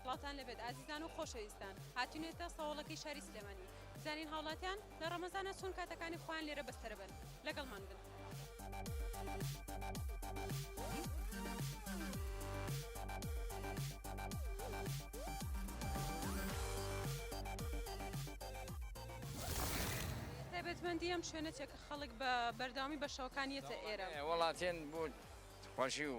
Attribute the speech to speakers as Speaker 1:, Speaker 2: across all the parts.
Speaker 1: سڵاوتان لەبێت ئازیزان و خۆشەویستان هاتینێتە سەوڵەکەی شاری سلێمانی بزانین هاوڵاتیان لە ڕەمەزانە چۆن کاتەکانی خۆیان لێرە بەستەرەبن لەگەڵمان بن. تایبەتمەندی ئەم شوێنەتێک خەڵک بە بەرداوامی بە شەوەکانیەتە ئێرە وڵاتێن بۆ
Speaker 2: خۆشی و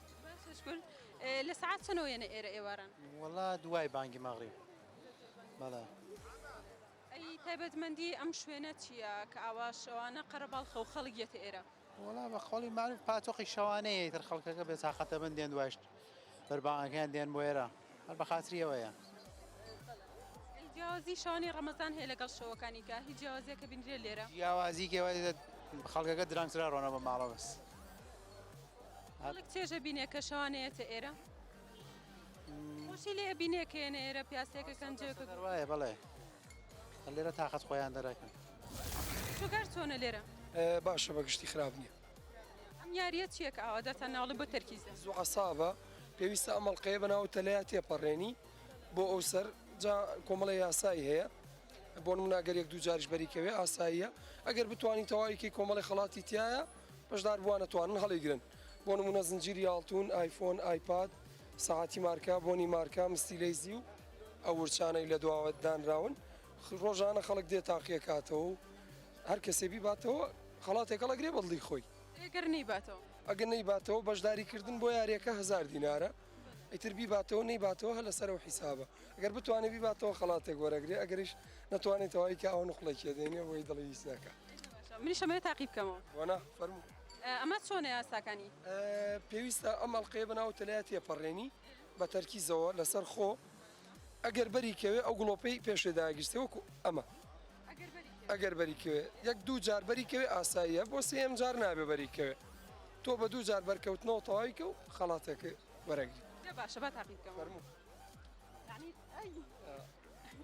Speaker 3: باش شکور
Speaker 1: لە سەعات چەنەوە یەنە ئێرە ئێواران؟ وەڵا دوای
Speaker 3: بانگی مەغریب بەڵێ.
Speaker 1: ئەی تایبەتمەندی ئەم شوێنە چییە کە ئاوا شەوانە قەرەباڵخە و خەڵک یەتە ئێرە؟ وەڵا بە قەوڵی
Speaker 3: مالوف پاتۆقی شەوانەیە ئیتر خەڵکەکە بێ تاقەتە بن دێن دوایشت بەربانگەکەیان دێن بۆ ئێرە هەر بە خاتری ئەوەیە. ئەی
Speaker 1: جیاوازی شەوانی ڕەمەزان هەیە لەگەڵ شەوەکانی کە هیچ جیاوازیەکە بینرێ لێرە؟ جیاوازی کێوە
Speaker 3: خەڵکەکە درەنگترە ڕۆنە بە ماڵە بەس.
Speaker 1: خەڵک چێژە بینێ کە شەوانەیەتە ئێرە خۆشی لێ بینێ کێنە ئێرە پیاسێکە کەنجێکە
Speaker 3: وایە بڵێ لێرە تااقەت خۆیان دەرەکەن شوگەر
Speaker 1: چۆنە لێرە باشە بە گشتی
Speaker 4: خراپ نییە ئەم یاریە
Speaker 1: چیەک ئاوا دەتە ناڵی بۆ تەرکیز زوو عسابە
Speaker 4: پێویستە ئەمەڵقەیە بەناو تەلەیە تێپەڕێنی بۆ ئەو سەر جا کۆمەڵی یاسایی هەیە بۆ مناگەر یەک دوو جاریش بەریکەوێ ئاساییە ئەگەر بتانی تەواویکەی کۆمەڵی خڵاتی تایە بەشداربووانە توانن هەڵیگرن، بۆ نموونە زنجیری ئاڵتوون، ئایفۆن، ئایپاد، سەعاتی مارکە، بۆنی مارکە، مستیلەی زیو. ئەو ورچانەی لە دواوە دانراون ڕۆژانە خەڵک دێ تاقیە کاتەوە و هەر کەسێ بیباتەوە خەڵاتێک هەڵەگرێ بە دڵی خۆی. ئەگەر نەیباتەوە؟
Speaker 1: ئەگەر نەیباتەوە
Speaker 4: بەشداری کردن بۆ یاریەکە هەزار دینارە. ئیتر بیباتەوە نەیباتەوە هەر لەسەر ئەو حیسابە گەر بتوانێت بیباتەوە خەڵاتێک وەرەگرێ ئەگەریش نەتوانێت تەواوی کە ئەو نقڵێکیە دێنێ بۆی دڵی هیچ ناکە منی شەمەێ
Speaker 1: تاقی بکەمەوە وەنا فەرمو
Speaker 4: ئەمە چۆنە
Speaker 1: یاساکانی پێویستە
Speaker 4: ئەم ئەڵلقەیە بەناو تەلات تێپەڕێنی بە تەرکیزەوە لەسەر خۆ ئەگەر بەری کەوێ ئەو گڵۆپەی پێشێ داگیرسێ وەکو ئەمە ئەگەر بەری کەوێ یەک دوو جار بەری کەوێ ئاساییە بۆ سێم جار نابێ بەری کەوێ تۆ بە دوو جار بەرکەوتنەوە تەواوی کە و خەڵاتەکە وەرەگری باشە بە تاقی بکەم
Speaker 1: فەرموو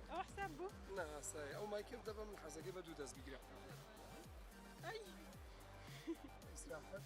Speaker 4: ئەوە
Speaker 1: حساب بوو ناسای ئەو
Speaker 4: مایکم دەبم حەزەکە بە دوو دەست بگرە ئیسراحەت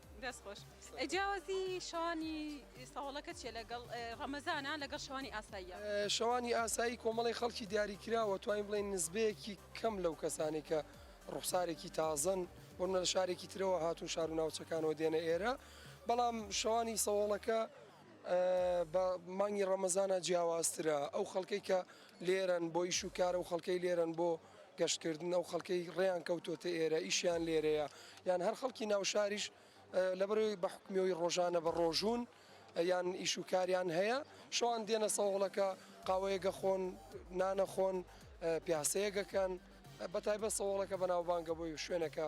Speaker 1: دەست خۆش جیاوازی شەوانی سەهۆڵەکە چیە لەگەڵ ڕەمەزانە لەگەڵ شەوانی ئاساییە؟ شەوانی
Speaker 4: ئاسایی کۆمەڵی خەڵکی دیاریکراوە توانین بڵێن نزبەیەکی کەم لەو کەسانی کە ڕوخسارێکی تازەن بۆنە لە شارێکی ترەوە هاتون شار و ناوچەکانەوە دێنە ئێرە بەڵام شەوانی سەوەڵەکە بە مانگی ڕەمەزانە جیاوازترە ئەو خەڵکەی کە لێرەن بۆ ئیش و کار ئەو خەڵکەی لێرەن بۆ گەشتکردن ئەو خەڵکەی ڕێیان کەوتۆتە ئێرە ئیشیان لێرەیە یان هەر خەڵکی ناوشاریش لەبەرەوەی بە حکمیەوەی ڕۆژانە بە ڕۆژوون یان ئیش و کاریان هەیە شەوان دێنە سەوڵەکە قاوەیەگە خۆن نانە خۆن پیاسەیەگەکەن بە تایبە سەوڵەکە بەناوبانگە بۆی شوێنەکە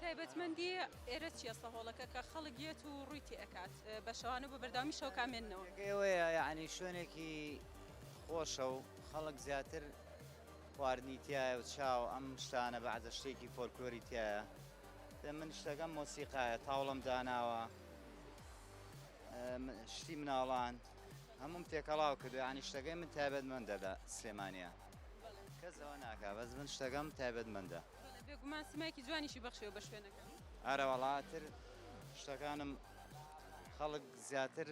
Speaker 1: تایبەتمەندی ئێرە چیە سەهۆڵەکە کە خەڵک یەت و ڕوی تێ ئەکات بە شەوانە بە بەردەوامی شەو کا مێننەوە. تێگەی ئەوەیە یەعنی
Speaker 5: شوێنێکی خۆشە و خەڵک زیاتر خواردنی تیایە و چا و ئەم شتانە بەعزە شتێکی فۆلکلۆری تیایە دە من شتەکەم مۆسیقایە تاوڵم داناوە شتی مناڵان هەمووم تێکەڵاو کردو یەعنی شتەکەی من تایبەت مەندە لە سلێمانە کەس ئەوە ناکا بەس من شتەکەم تایبەت مەندە. بەڵێ بێگومان سیمایەکی
Speaker 1: جوانیشی بەخشیەوە بە شوێنەکە. ئەرە وەڵا ئیتر
Speaker 5: شتەکانم خەڵک زیاتر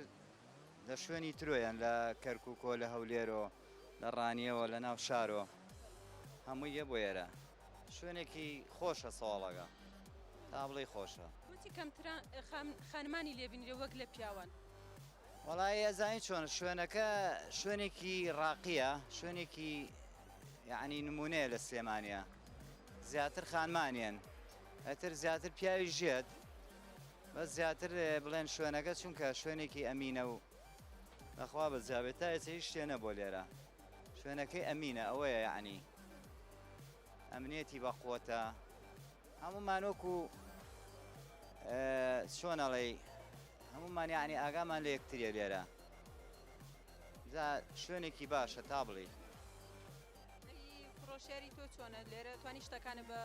Speaker 5: لە شوێنی ترۆیان لە کەرکووکۆ لە هەولێرۆ لە ڕانیەوە لە ناو شارۆ هەمووی یە بۆ ئێرە شوێنێکی خۆشە ساڵەکە تا بڵێ خۆشە وتی کەمتران
Speaker 1: خانمانی لێبینرێ وەک لە پیاوان وڵی
Speaker 5: ئەزانین چۆن شوێنەکە شوێنێکی ڕاقیە شوێنێکی یەعنی نمونەیە لە سلێمانیا زیاتر خانمانیان ئەتر زیاتر پیاوی ژێت بە زیاتر بڵێن شوێنەکە چونکە شوێنێکی ئەمینە و نەخوا بە جاابێت تا ئێسە هیچ شتێنە بۆ لێرە شوێنەکەی ئەمینە ئەوەیە یعنی ئەمنێتی بە قوتە هەمومانۆکو چۆنەڵی هەمومان یعنی ئاگامان لە یەکتریە لێرە جا شوێنێکی باشە تا بڵێی. فرۆشیاری تۆ چۆنە
Speaker 1: لێرە توانی شتەکانە بە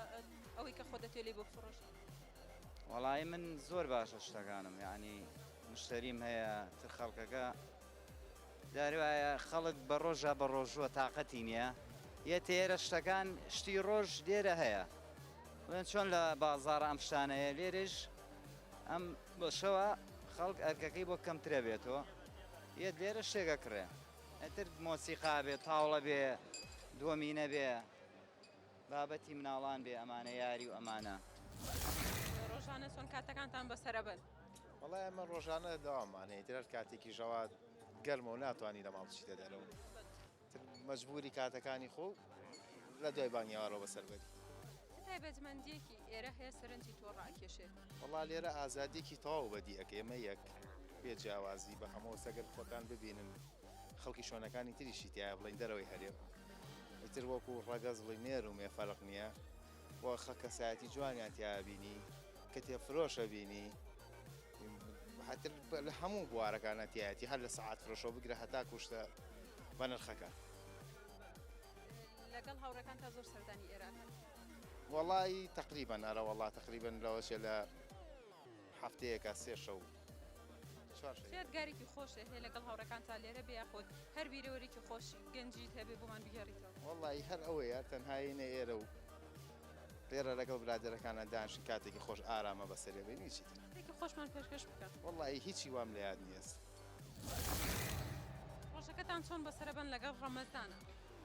Speaker 1: ئەوەی کە خۆ دەتێ لی بۆ فڕۆش وەڵی
Speaker 5: من زۆر باشە شتەکانم یعنی مشتەریم هەیە تر خەڵکەکە داروایە خەڵک بە ڕۆژە بە ڕۆژووە تااقەتی نییە یە تێرە شتەکان شتی ڕۆژ لێرە هەیە من چۆن لە بازار ئەم شتانەیە لێرش ئەم بەشەوە خەڵک ئەرکەکەی بۆ کەمترە بێتەوە یە لێرە شتێک ئەکڕێ ئەتر مۆسیقا بێ تاوڵە بێ دووەمینە بێ بابەتی مناڵان بێ ئەمانە یاری و ئەمانە
Speaker 1: ڕۆژانە چۆن کاتەکانتان بەسرە بن وڵای ئەمە
Speaker 6: ڕۆژانە داوامانەیە درار کاتێکی ژەوات گەرمە و ناتوانانی لە ماڵچیتە دەرەوە تر مەجبوری کاتەکانی خۆ لە دوای بانگی ئاڕۆ بەسەر بەری. چ تایبەتمەندیەکی
Speaker 1: ئێرە هەیە سەرنجی تۆ ڕاکێشێت؟ وەڵا لێرە
Speaker 6: ئازادیەکی تەواو بەدی ئەکەی ئەمە یەک بێ جیاوازی بە هەمەوە سەگەر خۆتان ببینن خەڵکی شوێنەکانی تریشی تایە بڵین دەرەوەی هەرێم ئیتر وەکو ڕەگەز بڵی نێر و مێ فەرق نییە وە خە کەسایەتی جوانیان تیا بینی کتێب فرۆشە بینی هەتر لە هەموو بوارەکانە تایەتی هەر لە سەعات فرۆشەوە بگرە هەتا کوشتە بە نرخەکە لەگەڵ
Speaker 1: هاوڕەکان تا زۆر سەردانی ئێران وڵی
Speaker 6: تقریبان ئەرە وڵا تقریبن لەوەشێ لە هەفتەیەکە سێ شەو یادگارێکی
Speaker 1: خۆشێ هەیە لەگەڵ هاوڕەکان تا لێرە بێ خۆت هەر بیرەوەرێکی خۆش گەنجیت هەبێ بۆمان بگەڕیتەوە وڵی هەر ئەوەیە
Speaker 6: تەنهاینە ئێرە و پێرە لەگەڵ برادەرەکانە دانشن کاتێکی خۆش ئارامە بەسەرێ بینی چی خۆشمان پێشکەش
Speaker 1: بکە وڵی هیچی وام لە
Speaker 6: یاد نیست
Speaker 1: ڕۆژەکەتان چۆن بەسەربن لەگەڵ ڕەمەزانە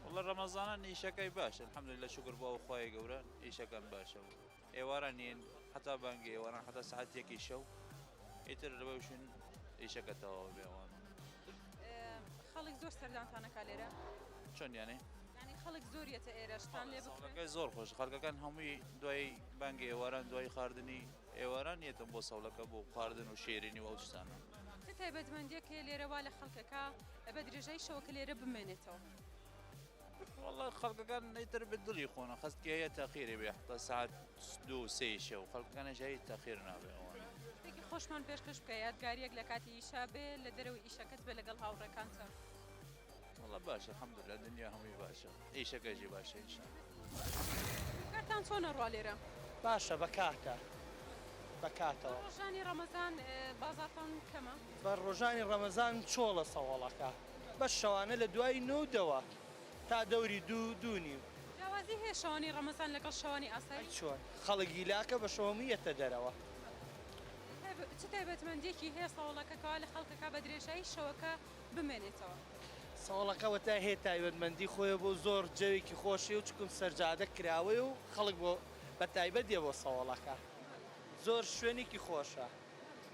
Speaker 1: وڵە ڕەمەزانە
Speaker 7: نیشەکەی باشە حملی لە شکر بۆ خخوای گەورە ئیشەکەم باشە ئێواران نین حەتا بانگی ئێواران حەتا سعات یەکی شەو ئیتر لەوەشن ئیشەکە تەواو بێوان
Speaker 1: خەڵک زۆر سەردانتانەکە لێرە چۆن یانێ
Speaker 7: ینی خەڵک
Speaker 1: زۆریەتە ئێرەشتان لێ بکە زۆر خۆش خەڵکەکان
Speaker 7: هەمووی دوای بانگی ئێواران دوای خواردنی ئێواران یەتم بۆ سەڵەکە بۆ خواردن و شێرینی و ئەوشتانە تایبەتمەندیەکە
Speaker 1: لێرەوا لە خەڵکەکە بە درێژای شەوەکە لێرە بمێنێتەوە.
Speaker 7: وەڵا خەڵکەکان ئیتر بە دڵی خۆن و خەسکی هەیە تەخیری بێ حتا سعات دوو و سێی شەو خەڵکەکانیش هەی تەخیر نابێ ئەوانە. شتێکی خۆشمان
Speaker 1: پێشکەش بکە یادگارییەک لە کاتی ئیشا بێ لە دەرەوەی ئیشەکەت بێ لەگەڵ هاوڕێکانتەوە.
Speaker 7: وەڵا باشە الحمدللە دنیا هەمووی باشە ئیشەکەشی باشە ان شاء اللە.
Speaker 1: کارتان چۆنە ڕوا لێرە؟ باشە بە کاتە
Speaker 8: بە کاتەوە. بە ڕۆژانی ڕەمەزان
Speaker 1: بازاڕتان کەمە؟ بە ڕۆژانی
Speaker 8: ڕەمەزان چۆڵە سەوەڵەکە. بەس شەوانە لە دوای نۆ و دەوە تا دەوری دوو دوو نیو. جیاوازی هەیە شەوانی
Speaker 1: ڕەمەزان لەگەڵ شەوانی ئاسایی؟ ئەی چۆن خەڵک
Speaker 8: هیلاکە بە شەو هەموو یەتە دەرەوە.
Speaker 1: چ تایبەتمەندیەکی هەیە سەوڵەکە کەوا لە خەڵک ئەکا بە درێژایی شەوەکە بمێنێتەوە؟ سەوڵەکە
Speaker 8: وەتای هەیە تایبەتمەندی خۆیە بۆ زۆر جەوێکی خۆشیە و چکم سەرجادە کراوەیە و خەڵک بۆ بە تایبەت دێ بۆ سەوڵەکە زۆر شوێنێکی خۆشە.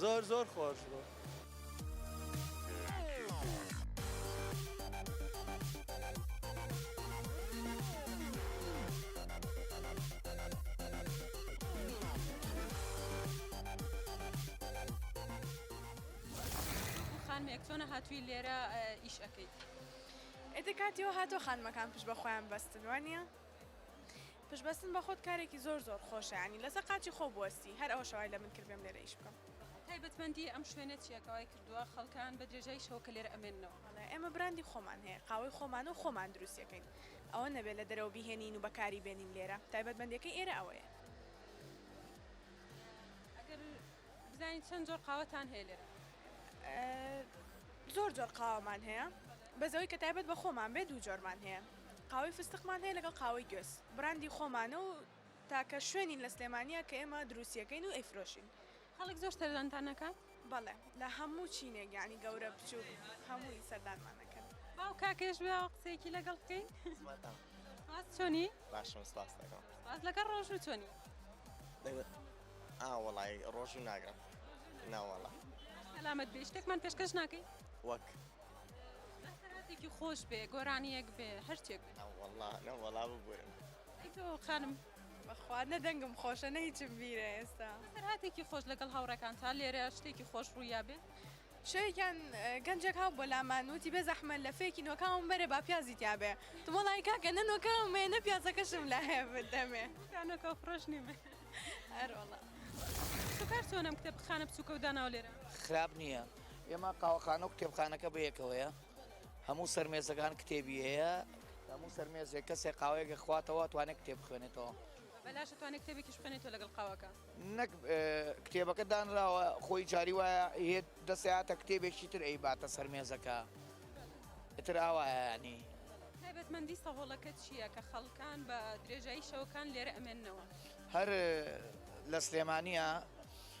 Speaker 8: زۆر زۆر خۆش بوو.
Speaker 1: خانمێک چۆنە هاتووی لێرە ئیش
Speaker 9: ئەەکەیت
Speaker 1: ئێتە
Speaker 9: کاتیەوە هاتۆ خانمەکان پشت بە خۆیان بەستن وانە پشت بەستن بە خۆت کارێکی زۆر زۆر خۆشە یانی لەسەر قاچی خۆو بوەستی هەر ئەوەشە وای لە من کرد بێم لێرە ئیش بکەم. تایبەتمەندی ئەم
Speaker 1: شوێنە چیە کە وای کردوە خەڵکان بە درێژای شەو کە لێرە ئەمێننەوە؟ وەڵا ئێمە براندی
Speaker 9: خۆمان هەیە قاوەی خۆمانە و خۆمان دروستی ئەکەین ئەوە نەبێ لە دەرەوە بیهێنین و بەکاری بێنین لێرە تایبەتمەندیەکەی ئێرە ئەوەیە. ئەگەر
Speaker 1: بزانین چەند جۆر قاوەتان هەیە لێرە؟
Speaker 9: زۆر جۆر قاوەمان هەیە بەس ئەوەی کە تایبەت بە خۆمان بێ دوو جۆرمان هەیە. قاوەی فستقمان هەیە لەگەڵ قاوەی گوێز بڕاندی خۆمانە و تاکە شوێنین لە سلێمانیە کە ئێمە دروستیەکەین و ئەیفرۆشین. خەڵک زۆر
Speaker 1: سەردانتان ئەکات؟ بەڵێ لە
Speaker 9: هەموو چینێک یانی گەورە بچووک هەمووی سەردانمان ئەکەن. با و کاکەش
Speaker 1: بێ قسەیەکی لەگەڵ بکەین. سپاس چۆنی؟ باشم سپاس دەکەم.
Speaker 10: سپاس لەگەڵ ڕۆژوو
Speaker 1: چۆنی؟ ئا
Speaker 10: وەڵای ڕۆژوو ناگرم نەوەڵا. سەلامەت
Speaker 1: بی شتێکمان پێشکەش ناکەی؟ وەک؟
Speaker 10: دەستەکاتێکی
Speaker 1: خۆش بێ گۆرانیەک بێ هەرچێک نەوەڵا نەوەڵا
Speaker 10: ببورم ئەی تۆ
Speaker 1: خانم بەخوا نە
Speaker 9: دەنگم خۆشە نە هیچم بیرە ئێستا هاتێکی خۆش لەگەڵ
Speaker 1: هاوڕەکان تا لێرە شتێکی خۆش ڕوویا بێ شەوێکیان
Speaker 9: گەنجێک هاو بۆ لامان وتی بێ زەحمە لە فێکی نۆکاوم بەرێ با پیازی تیاابێ تمەڵی کاکە نە نۆکاومێ نە پیازەکەشم لە هەیە بدەمێ نۆکە فرۆشنی
Speaker 1: بێ
Speaker 9: هەرۆڵە
Speaker 1: کار چۆنم کتێب خانە بچووکە و داناو لێرە خراپ نییە
Speaker 8: ئێمە قاوەخانە و کتێبخانەکە بەیەکەوەیە هەموو سەرمێزەکان کتێبی هەیە هەموو سەرمێزێک کەسێک قاوەیەکە خواتەوە توانێت کتێ بخوێنێتەوە بەلاش توانێت
Speaker 1: کتێبێکیش بخێنێتەوە لەگەڵ قاوەکە نەک
Speaker 8: کتێبەکە دانراوە خۆی جاری وایە هێت دەسەیاتە کتێبێکی تر ئەی باتە سەرمێزەکە تر ئاوایانی تایبەتمەندی
Speaker 1: سەهۆڵەکە چییە کە خەڵکان بە درێژایی شەوەکان لێرە ئەمێنەوە هەر
Speaker 8: لە سلێمانە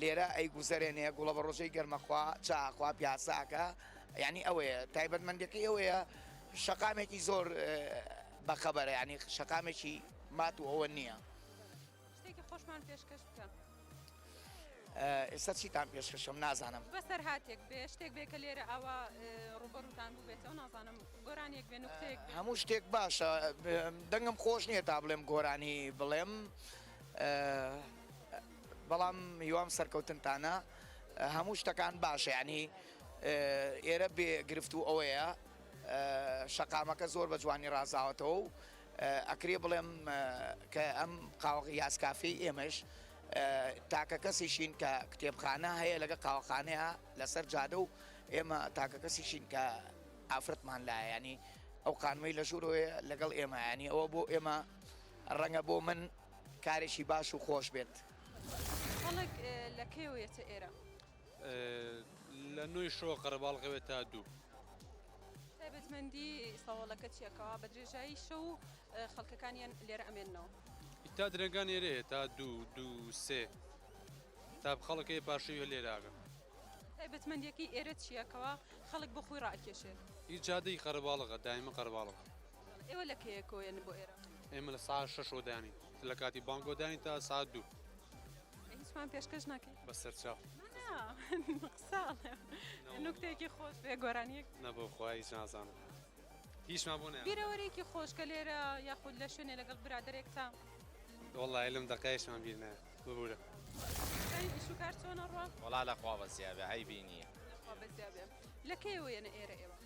Speaker 8: لێرە ئەیگوزەرێنێ گوڵەبەڕۆژەی گەرمەخوا چاخوا پیاساکە یعنی ئەوەیە تایبەتمەندەکەی ئەوەیە شەقامێکی زۆر بەخەبەرە ینی شەقامێکی مات و ئەوە نییە شتێکی خۆشمان
Speaker 1: پێشکەش
Speaker 8: بکە. ئێستا چیتان پێشکەشم نازانم بەسەر هااتێک بێ
Speaker 1: شتێک بێ کە لێرە ئەوە ڕوبەرتان بووبێتەوە نازانم گۆرانێک بێن هەموو شتێک باشە
Speaker 8: دەنگم خۆش نییە تا بڵێم گۆرانی بڵێم بەڵام هیوام سەرکەوتنتانە هەموو شتەکان باشە یعنی ئێرە بێ گرفت و ئەوەیە شەقامەکە زۆر بە جوانی ڕازاوەتەوە و ئەکرێ بڵێم کە ئەم قاوەغ یاسکافی ئێمەش تاکە کەسیشین کە کتێبخانە هەیە لەگە قاوەخانەیە لەسەر جادە و ئێمە تاکە کەسیشین کە ئافرەتمان لایەنی ئەو قانوی لە ژوورۆیە لەگەڵ ئێمەیانی ئەوە بۆ ئێمە ڕەنگە بۆ من کارێکی باش و خۆش بێت. خەڵک
Speaker 1: لە کەیەوە یەتە ئێرە؟
Speaker 11: لە نۆی شەوە قەرەباڵغەوێ تا دوو. تایبەتمەندی
Speaker 1: سەوەڵەکە چیە کەوا بە درێژایی شەو خەڵکەکانیان لێرە ئەمێننەوە؟ ئیتا درەنگان
Speaker 11: ئێرەیە تا دوو دوو سێ تا خەڵکەیە پاشەوی هەر لێرە ئاگەن. تایبەتمەندیەکەی
Speaker 1: ئێرە چیە کەوا خەڵک بۆ خۆی ڕائەکێشێت؟ ئی جادەی
Speaker 11: قەرەباڵغە دایمە قەرەباڵغە. ئێوە لە
Speaker 1: کەیە کۆیەن بۆ ئێرە؟ ئێمە لە ساعت شەشەوە
Speaker 11: دانین لە کاتی بانگەوە دانین تا ساعت دوو. هیچمان
Speaker 1: پێشکەش ناکەین بە سەرچاو نوکتێکی خۆش بێ گۆرانیەک نەبۆ خۆیش
Speaker 11: نازانم هیچمان بۆ بیرەوەرێکی خۆشکە
Speaker 1: لێرە یاخود لە شوێنێ لەگەڵ برادێکتا وڵی لەم
Speaker 11: دەقایشمان بیرنە ببوورە
Speaker 1: شوکار چۆنە ڕۆ وڵا لە خوا بەزیابێ
Speaker 10: هەی بینیە
Speaker 1: لە کەیەوەیەنە ئێرە ئێوە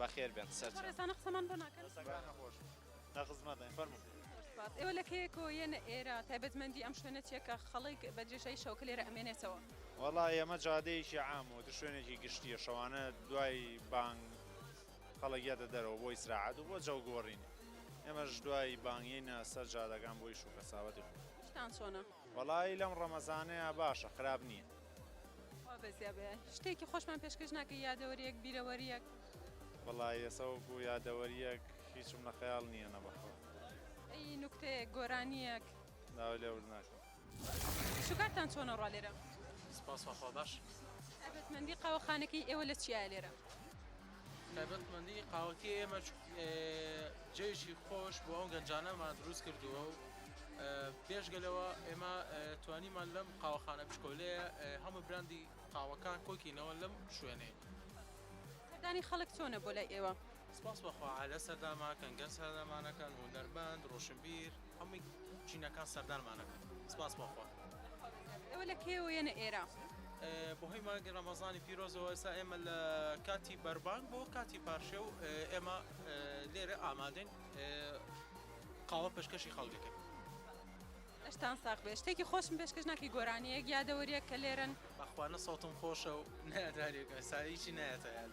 Speaker 10: بەخێر بێن سەر ڕێزانە قسەمان بۆ
Speaker 1: ناکەن
Speaker 6: لە خزمەتین فەرموو ئێوە لە کەیە
Speaker 1: کۆیەنە ئێرە تایبەتمەندی ئەم شوێنە چیە کە خەڵک بە درێژایی شەوکە لێرە ئەمێنێتەوە وەڵا ئێمە
Speaker 12: جادەیەکی عام و تر شوێنێکی گشتیە شەوانە دوای بانگ خەڵکیاتە دەرەوە بۆی سراعات و بۆ جەو گۆڕین ئێمەش دوای بانگینە سەر جادەکان بۆی شوکە ساوەتی خۆشتان چۆنە
Speaker 1: وەڵی لەم
Speaker 12: ڕەمەزانەیە باشە خراپ نییە وابەزیا
Speaker 1: بێ شتێکی خۆشمان پێشکەش ناکە یادەوەریەک بیرەوەریەک وەڵا
Speaker 12: یەسەوەکو یادەوەریەک هیچم لە خەیاڵ نییە نە بەخۆ ئەی
Speaker 1: نوکتەیەک گۆرانیەک ناوە لێ ورد
Speaker 12: ناکەم شوکارتان
Speaker 1: چۆنە ڕوا لێرە سپاس خوا
Speaker 11: باش تایبەتمەندی
Speaker 1: قاوەخانەکەی ئێوە لە چیایە لێرە
Speaker 11: تایبەتمەندی قاوەکەی ئێمە جێژی خۆش بۆ ئەو گەنجانەمان دروست کردووە و پێشگە لەوە ئێمە توانیمان لەم قاوەخانە بچکۆلەیە هەموو براندی قاوەکان کۆکینەوە لەم شوێنێ
Speaker 1: دانی خەڵک چۆنە بۆ لای ئێوە سپاس بەخوا لە
Speaker 11: سەرداما کەنگەر سەردامانەکەن هوەرمەند ڕۆشنبیر هەمووی چینەکان سەردانمان ئەکەن سپاس بۆ خوا. ئێوە
Speaker 1: لە کێوە یەنە ئێرە؟ بەهۆی
Speaker 11: مانگی ڕەمەزانی پیرۆزەوە ئێستا ئێمە لە کاتی بەربانگ بۆ کاتی پارشێ و ئێمە لێرە ئامادەین قاوە پێشکەشی خەڵکەکەن.
Speaker 1: ئەشتان ساق بێ شتێکی خۆشم پێشکەش ناکی گۆرانیەک یادەوەریەک کە لێرن بەخوانە سەوتم
Speaker 11: خۆشە و نادارێک ئەساییی نایەتە یاد.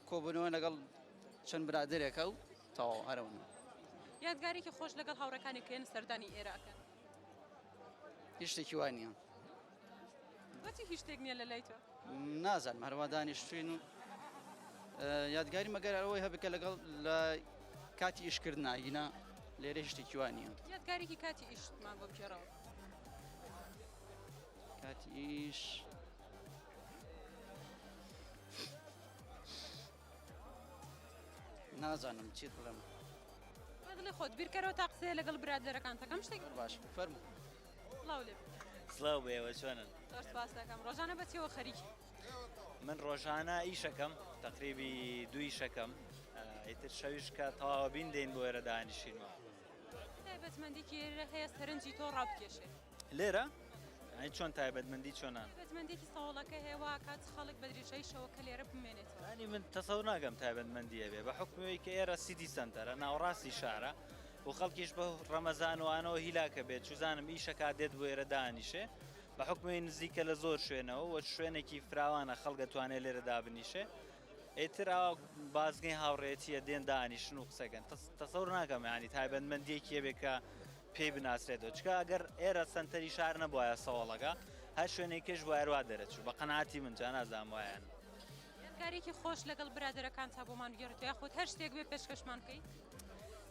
Speaker 13: کۆبوونەوە لەگەڵ چەند برادەرێکە و تەواو هەر ئەوەنە. یادگارێکی
Speaker 1: خۆش لەگەڵ هاوڕێکانی کێن سەردانی ئێرە ئەکەن؟ هیچ
Speaker 13: شتێکی وا نییە.
Speaker 1: بۆچی هیچ شتێک نییە لە لای تۆ؟ نازانم هەروا
Speaker 13: دانیشتوین و یادگاری مەگەر ئەوەی هەبکە لەگەڵ لە کاتی ئیشکردن ناگینا لێرە شتێکی وا نییە. یادگارێکی کاتی
Speaker 1: ئیشتمان بۆ بگێڕەوە.
Speaker 13: کاتی ئیش. نازانم چیت بڵێم بەدڵی
Speaker 1: خۆت بیرکەرەوە تا قسەیە لەگەڵ برادەرەکانتەکەم شتێک باش فەرمو
Speaker 13: سڵاو لێ
Speaker 1: سلااو بێوە
Speaker 10: چۆنن پاسەکەم
Speaker 1: ڕۆژانە بەچەوە خەریک من
Speaker 10: ڕۆژانە ئیشەکەم تقریبی دوی شەکەم ئیتر شەویشکە تەواوە بین دێن بۆ ئێرە دانیشینەوە بەچمەندی
Speaker 1: کێرە هەیە سەرنجی تۆ ڕابکێشێت لێرە ئەی
Speaker 10: چۆن تایبەتمەندی چۆنان تایبەتمەندێکی ساوڵەکە هێوا کات خەڵک
Speaker 1: بە درێژای شەوەکە لێرە بمێنێتەوە ینی من تەسەور
Speaker 10: ناگەم تایبەتمەندیە بێ بە حکومەوەی کە ئێرە سیدی سنتەرە ناوڕاستی شارە و خەڵکیش بە ڕەمەزانوانەوە هیلاکە بێت چوزانم ئیشەکە دێت بۆ ئێرە دانیشێ بە حکومی نزیکە لە زۆر شوێنەوە وە شوێنێکی فراوانە خەڵگە توانێت لێرە دابنیشێ ئێتر ئاوا بازگەی هاوڕێتیە دێن دانیشن و قسەکەن تەسەور ناکەم ینی تایبەتمەندیەکیە بێکە پێی بناسرێتەوە چکە ئەگەر ئێرە سەنتەری شار نەبواە سەوەڵەکە هەر شوێنێک کێش وایروا دەرەچوو بە قەناتی من جانازام وایەن کارێکی
Speaker 1: خۆش لەگەڵ برادەرەکان تا بۆمان گێڕێت یاخود هەر شتێک بێ پێشکەشمان بکەیت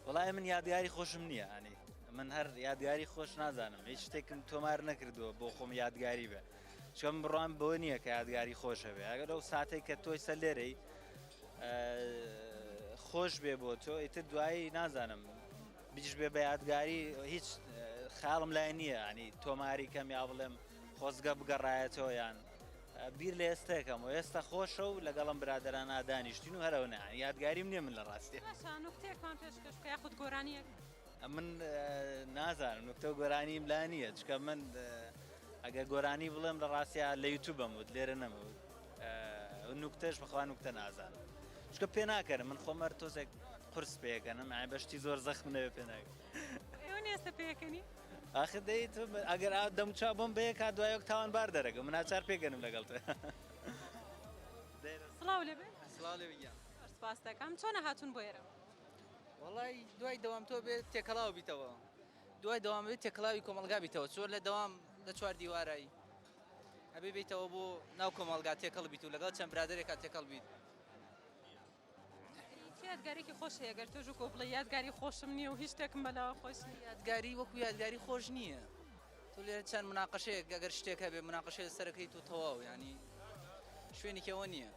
Speaker 1: وڵای من
Speaker 10: یادگاری خۆشم نییە ئەنی من هەر یادگاری خۆش نازانم هیچ شتێکم تۆمار نەکردووە بۆ خۆم یادگاری بێ چۆن بڕوان بۆ نییە کە یادگاری خۆشە بێ ئەگەر ئەو ساتێک کە تۆی سەر لێرەی خۆش بێ بۆ تۆ ئیتر دوایی نازانم بجش بێ بە یادگاری هیچ خیاڵم لای نییە ینی تۆماری کەم یا بڵێم خۆزگە بگەڕایەتەوە یان بیر لە ئێستەکەم و ئێستا خۆشە و لەگەڵم برادران نادانیشتین و هەرەوە نە یادگاریم نیە من لە ڕاستی نوکتێکمان پێشکەش
Speaker 1: کە خود گۆرانیەک من
Speaker 10: نازانم نوکتە و گۆرانیم لا نییە چکە من ئەگە گۆرانی بڵێم لە ڕاستە لە یوتوبم وت لێرە نەمەوت نوکتەش بخوا نوکتە نازان چکە پێ ناکەن من خۆمەر تۆزێک قرس پێکەنم ئای بەشتی زۆر زەخم نەوێ پێ ناک ئێستا
Speaker 1: پێکەنی ئاخر دەیت
Speaker 10: ئەگەر ئا دەم چا بۆم بەیە کا دوایەک تاوان بار دەرەکە من ناچار پێگەنم لەگەڵ تە
Speaker 1: سڵاو لێ سڵاو لێ
Speaker 13: سپاس دەکەم چۆنە
Speaker 1: هاتون بۆ ئێرە وڵی
Speaker 13: دوای دەوام تۆ بێت تێکەڵاو بیتەوە دوای دەوام بێت تێکڵاوی کۆمەلگا بیتەوە چۆر لە دەوام لە چوار دیوارایی ئەبێ بیتەوە بۆ ناو کۆمەڵگا تێکەڵ بیت و لەگەڵ چەند برادێکا تێکەڵ بیت.
Speaker 1: یادگارێکی خۆش هەیە گەر تۆژ کۆ بڵێ یادگاری خۆشم نییە و هیچ شتێکم بەلاوە خۆش یادگاری وەکو
Speaker 13: یادگاری خۆش نییە تو لێ چەند مناقەشەیەک گەگەر شتێک هەبێ مناقەشێ سەرەکەیت و تەواو ینی شوێنیکەوە نییە.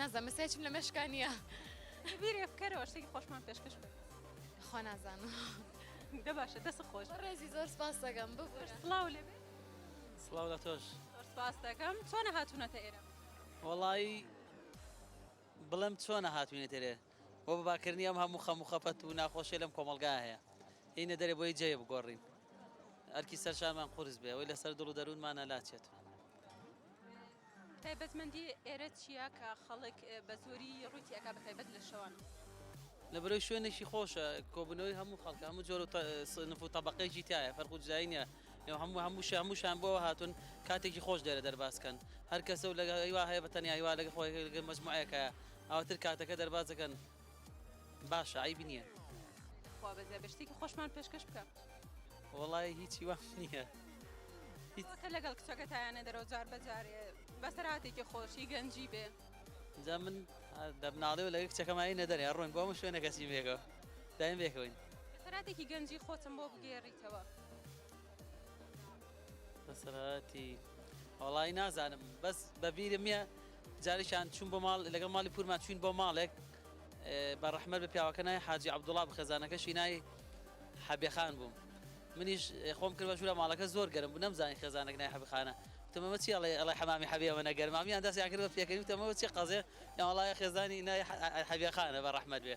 Speaker 14: نازە مساچم لە مەشکانە بیرێ
Speaker 1: بکەرەوە شتێکی خۆشمان پێشکەش بێت خۆ نازانم
Speaker 14: دە
Speaker 1: باشە دەست خۆش ڕێزی زۆر سپاس دەگەم
Speaker 14: ببوو سلااو لێ
Speaker 1: سلااو لە تۆش
Speaker 10: سپاس دەکەم
Speaker 1: چۆنە هاتوونەتە ئێرە وڵی
Speaker 10: بڵم چۆنە هاتوینە تێرێ بۆ بەباکردنی ئەم هەموو خەم و خەفەت و ناخۆشیە لەم کۆمەڵگایە هەیە هینە دەرێ بۆی جێ بگۆڕین ئەرکی سەر شانمان قورس بێ ئەوەی لەسەر دڵ و دەروونمانە لاچێت.
Speaker 1: تایبەتمەندی ئێرە چیە کە خەڵک بە زۆری ڕووی تێئەکا بە تایبەت لە شەوان؟ لە بەرەوی
Speaker 10: شوێنێکی خۆشە کۆبنەوەی هەموو خەڵکە هەموو جۆر و سنف و تەبەقەیەکی تایە فەرق و جودایی نیە لەو هەموو هەمووش هەمووشان بۆ هاتون کاتێکی خۆش لێرە دەرباز کەن هەر کەسە و لەگە هیوا هەیە بە تەنیا هیوا لەگە خۆی لەگە مەجموعەیەکە ئاواتر کاتەکە دەرباز دەکەن باشە عیب نییە خوا بەزێ
Speaker 1: بە شتێکی خۆشمان پێشکەش بکە وەڵی
Speaker 10: هیچی وا نییە
Speaker 1: کە لەگەڵ کچەکە تایانە دەرەوە جار بەجارێ بەسەراتێکی خۆشی گەنجی بێ جا من
Speaker 10: دەبناڵێ و لەگە کچەکەمایی نەدەێ ڕوون بۆ من شوێنە کەسی بێگەوە دایم بێکەوەین سەراتێکی گەنجی
Speaker 1: خۆتم بۆ بگێڕیتەوە
Speaker 10: بەسەراتی وەڵی نازانم بەس بەبیرم نیە جارێکیان چوون بۆ ماڵ لەگەڵ ماڵی پورما چوین بۆ ماڵێک بە ڕەحمە بە پیاوەکە نای حاجی عبدوڵا بخەزانەکەشی نای حەبێخان بووم منیش خۆم کرد بە ژورە ماڵەکە زۆر گەرم بوو نەمزانانی خێزانێک نای حەبخانە تمەمە چی ئەڵێ ئەڵێ حەمامی حەبێەوە نەگەرمامیان دەستیان کرد بە پێکەوی تەمەوە چی قەزێ یاوەڵایە خێزانی نای حەبێخانە بە ڕەحمەت بێ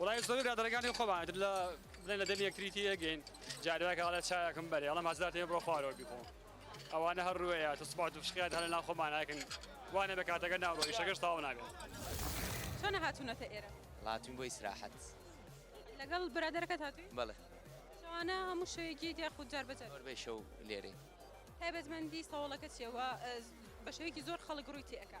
Speaker 1: وەڵایی زۆربەی
Speaker 15: برادەرەکانی خۆمان ئیتر لە بڵێن لە دەمی یەکتری تێئەگەین جارێ وایە کە ئەڵێ چایەکم بەرێ ئەڵێم هەزار تێ بڕۆ خوارەوە بیخۆ ئەوانە هەر ڕوێیە تۆ سوبات و فشقیات هەر لەناو خۆمان ئەکەن وا نەبێ کاتەکە ناڕوا ئیشەکەش تەواو نابێت. چۆنە
Speaker 1: هاتوونەتە ئێرە؟ وەڵا هاتووین بۆ ئیسراحەت.
Speaker 5: لەگەڵ
Speaker 1: برادەرەکەت هاتووی؟ بەڵێ.
Speaker 5: شەوانە هەموو
Speaker 1: شەوێک یەیت یاخود جار بە جار؟ زۆربەی شەو لێرەین.
Speaker 5: تایبەتمەندی
Speaker 1: سەوڵەکە چییە وا بە شێوەیەکی زۆر خەڵک ڕووی تێئەکا؟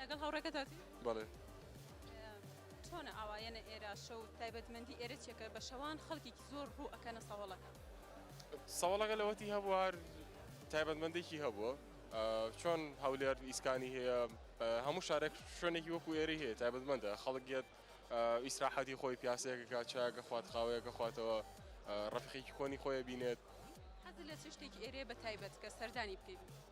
Speaker 16: لەگەڵ
Speaker 1: هاوڕێکەتاتی؟ بەڵێ. چۆنە ئاوا یەنە ئێرە شەو تایبەتمەندی ئێرە چێکە بە شەوان خەڵکیکی زۆر ڕوو ئەکەنە سەوەڵەکە. سەوەڵەکە
Speaker 16: لەوەتی هەبووە هەر تایبەتمەندێکی هەبووە چۆن هەولێر ئیسکانی هەیە هەموو شارێک شوێنێکی وەکو ئێری هەیە تایبەتمەندە خەڵک گێت ئیسراحەتی خۆی پیاسەیەکەکە چاکە خوات خاوەیەکە خواتەوە ڕفقێکی کۆنی خۆی بینێت. حەز لە چ
Speaker 1: شتێکی ئێرێ بە تایبەت کە سەردانی بکەیت؟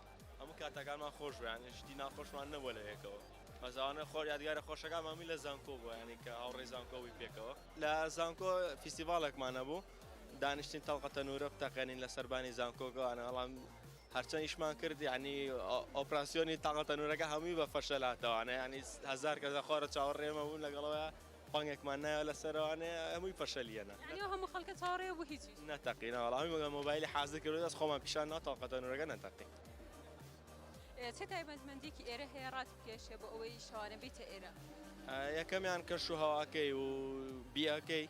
Speaker 17: هەموو کاتەکانمان خۆش بوو یانی شتی ناخۆشمان نەبووە لە یەکەوە مەزاوانە خۆر یادگارە خۆشەکانمان بووین لە زانکۆ بووە یانی کە هاوڕێی زانکۆ بووین پێکەوە لە زانکۆ فیستیڤاڵێکمان هەبوو دانیشتین تەڵقە تەنوورە بتەقێنین لە سەربانی زانکۆگەوانە بەڵام هەرچەند ئیشمان کرد یعنی ئۆپراسسیۆنی تاقە تەنورەکە هەمووی بە فەشەلاتەوانە ینی هزار کەسە خۆرە چاوەڕێمە بوون لەگەڵەوە بانگێکمان نایەوە لە سەرەوانێ هەمووی پەشەلییەنە یعنی ئەو هەموو خەڵکە
Speaker 1: چاوەڕێیە بۆ هیچیش نەتەقی ناوەڵا هەمووی مەگەر
Speaker 17: مۆبایلی حازر کردو دەست خۆمان پیشان ناوە تاقە تەنوورەکە نەتەقی
Speaker 1: ئێ، چه تایبەتمەندیەکی ئێرە هەیە ڕات بکێشێ بۆ ئەوەی شەوانە بیتە ئێرە؟ یەکەمیان
Speaker 17: کەش و هەواکەی و بیەکەی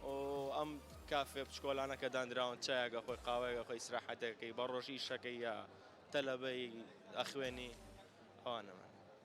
Speaker 17: و ئەم کافێ بچکۆلانە کە دانراون چایەگە خۆی قاوەیەگە خۆی ئیسراحەتێکەکەی بە ڕۆژی ئیشەکەی یا تەلەبەی ئەخوێنی ئەوانەمان.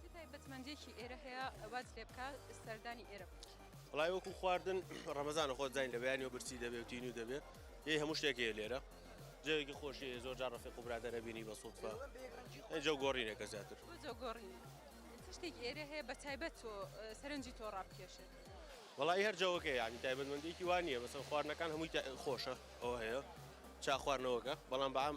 Speaker 18: چ تایبەتمەندیەکی
Speaker 1: ئێرە هەیە واز لێ بکە سەردانی ئێرە بکە وڵای وەکو
Speaker 18: خواردن ڕەمەزان خۆ زین لە بەیانی و برسی دەبێت و تینی و دەبێت یه هەموو شتێکی لێرە جەوێکی خۆشی زۆر جا ڕفق و برادەرە بینی بە سوودفە ئەجە گۆڕینێکە زیاتر گۆڕین
Speaker 1: شتێک ئێرە هەیە بە تایبەت تۆ سەرنجی تۆ ڕابکێشێت وڵی هەر
Speaker 18: جەوەکە یانی تایبەتمەندێکی وانە بەسەر خواردنەکان هەمووی خۆشە ئەو هەیە چا خواردنەوەکە بەڵام بەام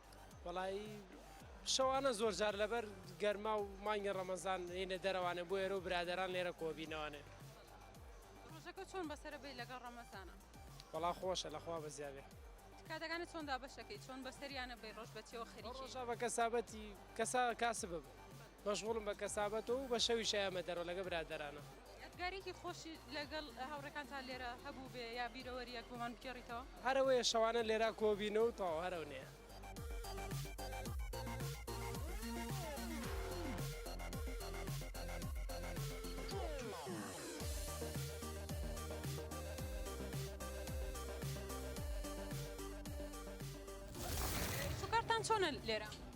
Speaker 1: وەڵایی
Speaker 4: شەوانە زۆر جار لەبەر گەرما و مانگی ڕەمەزان هێنە دەرەوانێ بۆ ئێرە و برادران لێرە کۆبینەوانێ ڕژەکە
Speaker 1: چۆن بەسرە بی لەگەڵ ڕەمەزانە وەڵا خۆشە
Speaker 4: لەخوا بەزیاێ کاتەکانی چۆن
Speaker 1: دابەشەکەی چۆن بەسەریانە بەی ڕۆژ بەچەوە خەریشە بە کەسابەتی
Speaker 4: کەسا کاسب بە. مەشغوڵم بە کەسابەت و بە شەویش ئەیامە دەرەوە لەگەڵ برادەرانم. یادگاریەکی خۆشی
Speaker 1: لەگەڵ هاوڕێکانتا لێرە هەبووبێ یا بیرەوەریەک بۆمان بگێڕیتەوە؟ هەر ئەوەیە شەوانە
Speaker 4: لێرا کۆبین و تەواو هەر ئەونەیە.
Speaker 1: سوکارتان چۆنە لێرە؟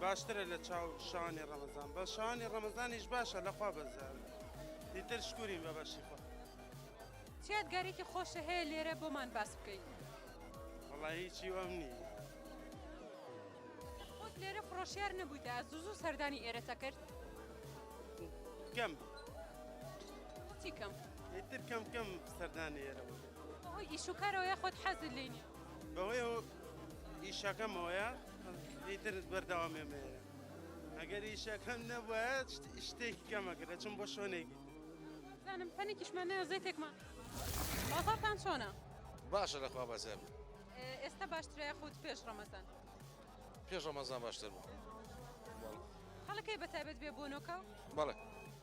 Speaker 19: باشترە لە چاو شانی ڕەمەزان بە شانی ڕەمەزانیش باشە لەخوا بەزار دیتر شکورین بە بەشی خۆ
Speaker 1: چیاد گارێکی خۆشە هەیە لێرە بۆمان باس بکەین وڵی
Speaker 19: هیچی وەم نی
Speaker 1: خۆت لێرە فڕۆشیار نەبوویدا زوزوو سەردانی ئێرەتە کرد
Speaker 19: کەم
Speaker 1: چی کەم ئیتر کەم کەم
Speaker 19: سەردانی ئێرە بەهۆی ئیشوکارەوە
Speaker 1: یاخۆت حەزت لێ نیە بەهۆی ئەو
Speaker 19: ئیشەکەمەوەیە ئیتر بەردەوامێ مێرە ئەگەر ئیشەکەم نەبووە شتێکی کەمە کرد چم بۆ شوێنێکی زانم
Speaker 1: پەنێکیشمان
Speaker 18: نەیە
Speaker 1: زەیتێکمان
Speaker 18: بازارتان
Speaker 1: چۆنە باشە
Speaker 18: لەخوا بەزێ
Speaker 1: ئێستا باشترای خۆت پێش ڕەمەزان پێش
Speaker 20: ڕەمەزان باشتر بوو
Speaker 1: خەڵەکەی بەتابێت بێ بۆ نۆکە بەڵێ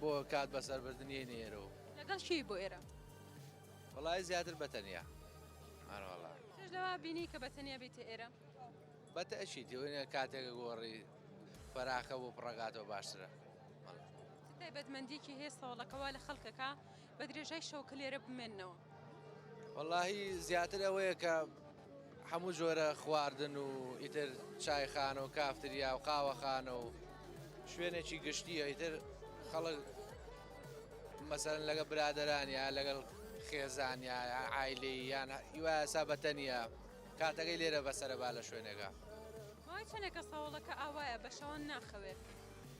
Speaker 21: بۆ کات بەسەر بردن یەی نێرەوە لەگەڵ شی بۆ ئێرە
Speaker 1: وڵی
Speaker 21: زیاتر بەتەنیا ئەرواڵا لەوا
Speaker 1: بینی کە بەتەنیا بیت ئێرە بەتە ئەشی
Speaker 21: تێوێنە کاتێکە گۆڕی فەراخە بۆ پڕگاتەوە باشترە
Speaker 1: تایبەتمەندیکی هەیە سەوڵەکەوا لە خەڵکەکە بە درێژای شەوکە لێرە بمێنەوە. وەڵاهی
Speaker 21: زیاتر ئەوەیە کە هەموو جۆرە خواردن و ئیتر چایخانە و کافتریا و قاوەخانە و شوێنێکی گشتیە ئیتر خەڵک مەسەرن لەگە برادرانیا لەگەڵ خێزانیا ئایلی یان یواسا بەتەنیا کاتەکەی لێرە بەسەرە با لە شوێنەکە چەنێکە
Speaker 1: ساوڵەکە ئاوایە بە شەوان ناخەوێت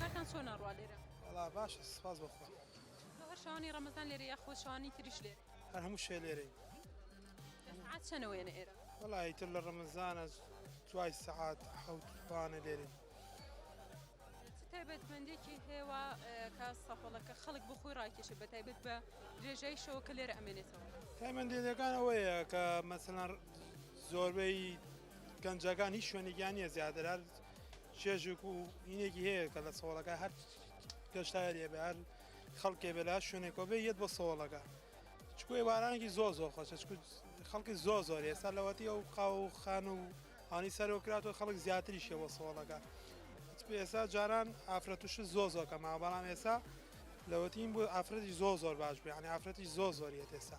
Speaker 21: کارتان
Speaker 1: چۆن ئەڕوا لێرە وڵا باش سپاس
Speaker 22: بەخۆ هەر شانی
Speaker 1: ڕەمەزان لێرە یا خۆشانی تریش لێ هەر هەموو شێ لێرەی چەنەوەێنە ئێرە وڵی تر لە
Speaker 22: ڕەمەزانە دوای سەعات حوتوانە لێرە تایبەتمەندێکی
Speaker 1: هێوا کە سەفڵەکە خەڵک بۆ خۆی ڕاکێشە بە تایبەت بە درێژای شەوە کە لێرە ئەمێنێتەوە تایمەندێتەکان
Speaker 22: ئەوەیە کە مەسەەن زۆربەی گەنجەکان هیچ شوێنێکیان نیە زیاتر چێژێک و هینێکی هەیە کە لە سۆڵەکە هەر گەشتارێ بە هەر خەڵکێ بێ لا شوێنێکەوە بێ یەت بە سۆڵەکە چکو ێوارانێکی زۆ زۆ خۆشە چکو خەڵکی زۆ زۆر ێستا لەوەتی ئەو قاو و خان و ئانی سەرۆکرات و خەڵک زیاتری شێوە سۆڵەکە ئێستا جاران ئافرەتوش زۆ زۆ کەما بەڵام ئێستا لەوەتیم بۆ ئافرەتی زۆ زۆر باش بیانی ئافرەتی زۆ زۆریە ئێستا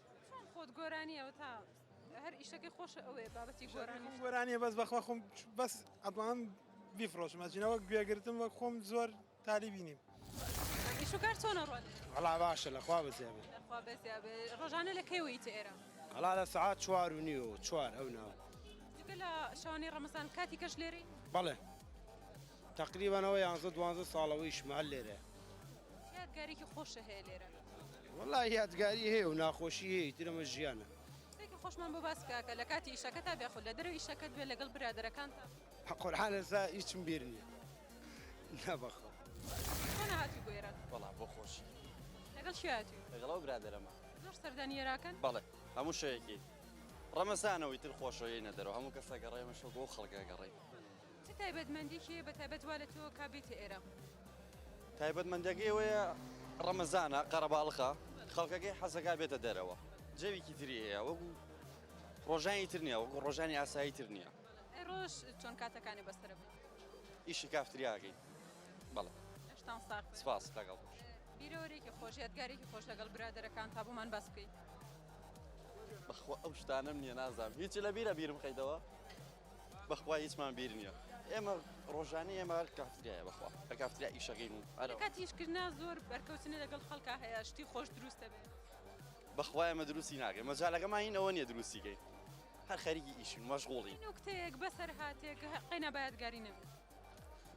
Speaker 22: چۆن خۆت گۆرانی
Speaker 1: ئەوە تا هەر ئیشەکەی خۆش ئەوێ بابەتی گۆرانی گۆرانیە بەس بەخوا خۆم
Speaker 22: بەس ئەتوانم بیفرۆشمە جنەوە گوێگرتم وەک خۆم زۆر تالیبی نیم شوکار
Speaker 1: چۆنە ڕۆن هەڵا باشە لەخوا
Speaker 23: بەزیابێ
Speaker 1: ڕۆژانە لە کەیوەی تێرە هەڵا لە سعات
Speaker 23: چوار و نیو چوار ئەو ناوە لە
Speaker 1: شوانی ڕەمەسان کاتی کەش لێری بەڵێ
Speaker 23: تەقریبەن ئەوە یانزە دوانزە ساڵە ویشمە هەر لێرەیە. چ یادگارێکی
Speaker 1: خۆشە هەیە لێرە؟ وەڵا
Speaker 23: یادگاری هەیە و ناخۆشی هەیە ئیتر ئەمە ژیانە. قسەیەکی خۆشمان بۆ
Speaker 1: باس بکە کە لە کاتی ئیشەکەتا بێ خود لە دەرەوەی ئیشەکەت بێ لەگەڵ برادەرەکانتا. قورعان ئێستا
Speaker 23: هیچم بیر نیە نا بەخوا. چۆن
Speaker 1: هاتوی بۆ ئێران؟ وەڵا بۆ خۆشی.
Speaker 24: لەگەڵ کێ
Speaker 1: هاتوی؟ لەگەڵ ئەو برادەرەمە.
Speaker 24: زۆر سەردانی
Speaker 1: ئێراکەن؟ بەڵێ هەموو
Speaker 24: شەوێکی. ڕەمەزانە و ئیتر خۆشەویەینە دەرەوە هەموو کەس ئەگەڕێ ئێمەش وەکو ئەو خەڵکە ئەگەڕێین. چ
Speaker 1: تایبەتمەندیەکی هەیە بە تایبەت وا لە تۆ کا بێیتە ئێرە؟
Speaker 24: تایبەتمەندەکەی ئەوەیە ڕەمەزانە قەرەباڵخە خەڵکەکەی حەزەکە بێتە دەرەوە جەویکی تری هەیە وەکو ڕۆژانی تر نیە وەکو ڕۆژانی ئاسایی تر نییە ڕۆژ چۆن
Speaker 1: کاتەکانی بەسرە ئیشی کافتریاگەی
Speaker 24: بەڵێ
Speaker 1: سپاس لەگەڵ
Speaker 24: بیرەوەرێکی
Speaker 1: خۆش یادگارێکی خۆش لەگەڵ برادەرەکان تا بۆمان باس بکەیت
Speaker 24: بەخۆ ئەو شتانم نییە نازانم هیچ لە بیرە بیرم خەیتەوە بەخوا هیچمان بیر نیە ئێمە ڕۆژانی ئێمە هەر کافتریایە بەخوا هەر کافتریا ئیشەکەین و کات ئیشکردنا زۆر
Speaker 1: بەرکەوتنە لەگەڵ خەڵکا هەیە شتی خۆش دروستە بێت بەخوا ئێمە
Speaker 24: دروستی ناکەین مەجالەکەمان هین ئەوە نیە دروستیکەین هەر خەریکی ئیشین مەشغوڵین نوکتەیەک بەسەر
Speaker 1: هاتێک قەینا بایەتگاری نەبێت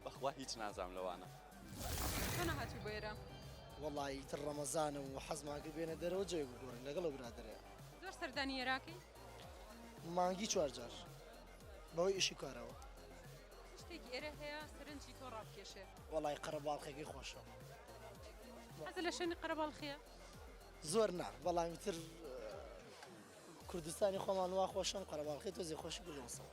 Speaker 1: بەخوا
Speaker 24: هیچ نازام لەوانە تۆ
Speaker 1: نەهاتوو بۆ ئێرە وەڵایی تر
Speaker 2: ڕەمەزانە و حەزمان کرد بێنە دەرەوە جەوێک بگۆڕین لەگەڵ ئەو برادەرەیە زۆر سەردانی
Speaker 1: ئێراکەی مانگی
Speaker 2: چوار جار بەوەی ئیشی کارەوە
Speaker 1: شتێکی ئێرە هەیە سەرنجی تۆ ڕابکێشێ وەڵی
Speaker 2: قەرەباڵخێکی خۆشە حەز
Speaker 1: لە شوێنی قەرەباڵخیە زۆر
Speaker 2: نا بەڵامی تر کوردستانی خۆمان وا خۆشم قەرەباڵخی تۆزی خۆشی گوڵسەوە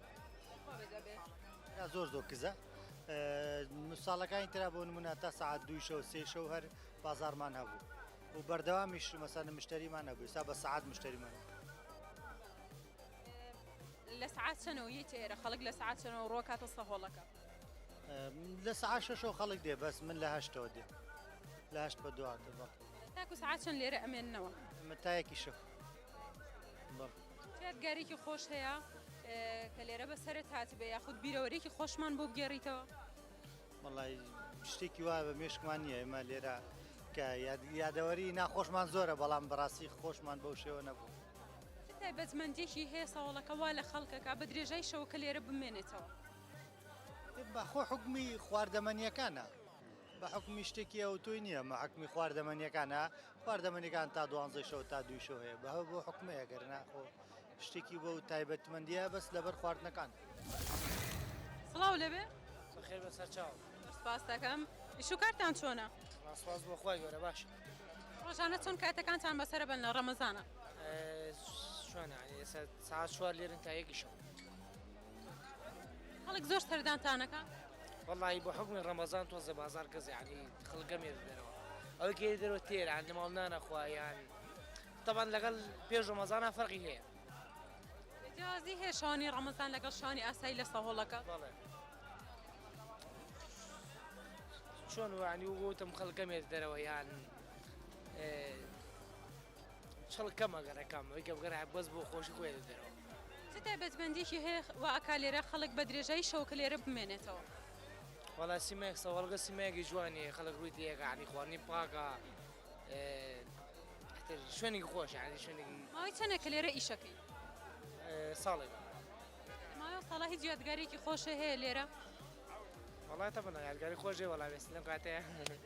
Speaker 3: زۆر زۆر کزە ساڵەکانی تررا بۆ نمونە تا سعات دوو شەو سێ شەو هەر بازارمان هەبوو و بەردەوامیش مەسەنە مشتریمان نەبوو سا بە سعات مشتریمان لە سعات چەنەوە یە تێرە
Speaker 1: خەڵک لە سعات چەنەوە ڕۆکاتە سەهۆڵەکە
Speaker 3: لە سعات شەشەوە خەڵک دێ بەس من لە هەشتەوە دێ لە هەشت بە دواتە بە تاکو سعات
Speaker 1: چەند لێرە ئەمێنەوە متایەکی شەف
Speaker 3: بەڵ تۆ
Speaker 1: یادگاریەکی خۆش هەیە کە لێرە بە سەرت هاتبێ یاخود بیرەوەرێکی خۆشمان بۆ بگێڕیتەوە وڵی
Speaker 3: شتێکی وایە بە مێشکمان نییە ئێمە لێرە کە یادەوەری ناخۆشمان زۆرە بەڵام بەڕاستی خۆشمان بەو شێوە نەبوو تایبەتمەندێکی
Speaker 1: هەیە ساوڵەکە وا لە خەڵکەکە بە درێژای شەوەکە لێرە بمێنێتەوە
Speaker 3: بەخۆ حکومی خواردەمەنیەکانە بە حکومی شتێکی ئەو تۆی نییە مەحکمی خواردەمەنیەکانە خواردەمەنیەکان تا دوانزەی شەو تا دووی شەو هەیە بەهە بۆ حکومەیە گەر ناخۆ شتێکی بۆ تایبەتمەندیە بەس لەبەر خواردنەکان
Speaker 1: سڵاو لەبێ خێر بە سەرچاو
Speaker 2: سپاستەکەم
Speaker 1: ئیشوکارتان چۆنە سپاس بۆ خخوای
Speaker 2: گەورە باش ڕۆژانە چۆن
Speaker 1: کاتەکانتان بەسرە بن لە ڕەمەزانە
Speaker 2: شوێنە سا چوار لێرن تا یەکیشەوە
Speaker 1: خەڵک زۆر سەردانتانەکە؟ وەڵاهی بە
Speaker 2: حوکمی ڕەمەزان تۆزێ بازاڕ گەزە یانی خەڵک گەمێ دەدەرەوە ئەوەی کە دەرەوە تێرە یان لە ماڵ نانەخوا یان تەبان لەگەڵ پێش ڕەمەزانە فەرقی هەیە جیازی
Speaker 1: هەیە شانی ڕەمەزان لەگەڵ شانی ئاسایی لە سەهۆڵەکە بەڵێ
Speaker 2: چۆن وانی وگوتم خەڵ گەمێ دەرەوە یان چڵک کە مە گە رە کە مە گە گە رە بەس بۆ خۆشی خۆی دە دەرە وە. چ تایبەت
Speaker 1: مەندیەکی هەیە وا ئەکا لێرە خەڵک بە درێژایی شەوەکە لێرە بمێنێتەوە؟ وەڵا
Speaker 2: سیمایەک سەواڵگە سیمایەکی جوانی هەیە خەڵک ڕووی تێیەکە یانی خواردنی پاکە تر شوێنێکی خۆش یانی شوێنێکی ماوەی چەنە کە لێرە
Speaker 1: ئیشەکەی
Speaker 2: ساڵێک
Speaker 1: ماوەی ساڵە هیچ یادگارێکی خۆشە هەیە لێرە وەڵا
Speaker 2: تەبەڵە یادگاری خۆش بێ وەڵا وێستی لەم کاتەیە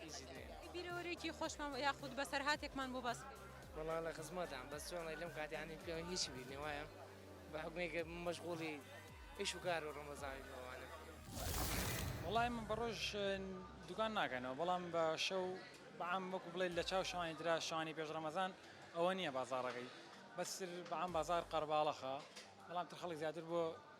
Speaker 2: هیچی نییە.
Speaker 1: بیرەوەرێکی خۆشمان یاخود بەسەرهاتێکمان بۆ باس بکەی. وەڵا لە خزمەتام
Speaker 2: بەس چۆن ئەڵێی لەم کاتەیە یانی پێم هیچی بیر نییە وایە بە حوکمی کە مەشغوڵی ئیش و کار و ڕەمەزانین و ئەوانە.
Speaker 7: وەڵا ئێمە بە ڕۆژ دوکان ناکەینەوە بەڵام بە شەو بەعام وەکو بڵێی لە چاو شەوانی ترا شەوانی پێش ڕەمەزان ئەوە نییە بازاڕەکەی بەس تر بەعام بازار قەرباڵەخە بەڵام تر خەڵک زیاتر بۆ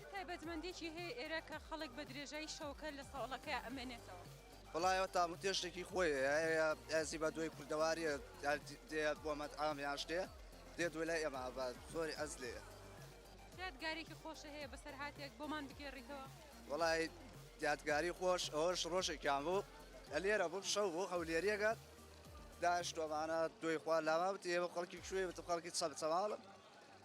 Speaker 1: چ تایبەتمەندیەکی هەیە ئێرە کە خەڵک بە درێژایی شەوەکە لە سەوڵەکەی ئەمێنێتەوە؟ وەڵا ئەوە
Speaker 9: تاموتێشتێکی خۆی ئەزی بە دوای کوردەواریە دێ بۆ مەتعام یاش دێ دێ دوێ لای ئێمە بە زۆری ئەز لێ یادگارێکی
Speaker 1: خۆشە هەیە بەسەر هااتێک بۆمان بگێڕیتەوە وڵی
Speaker 9: یادگاری خۆش ئەوش ڕۆژێکیان بوو لە لێرە بوو شەو بۆ هەولێریەکە داش تۆمانە دوێ خوا لاوە بتێ بە خەڵکی کوێ بە خەڵکی چەپ چەواڵم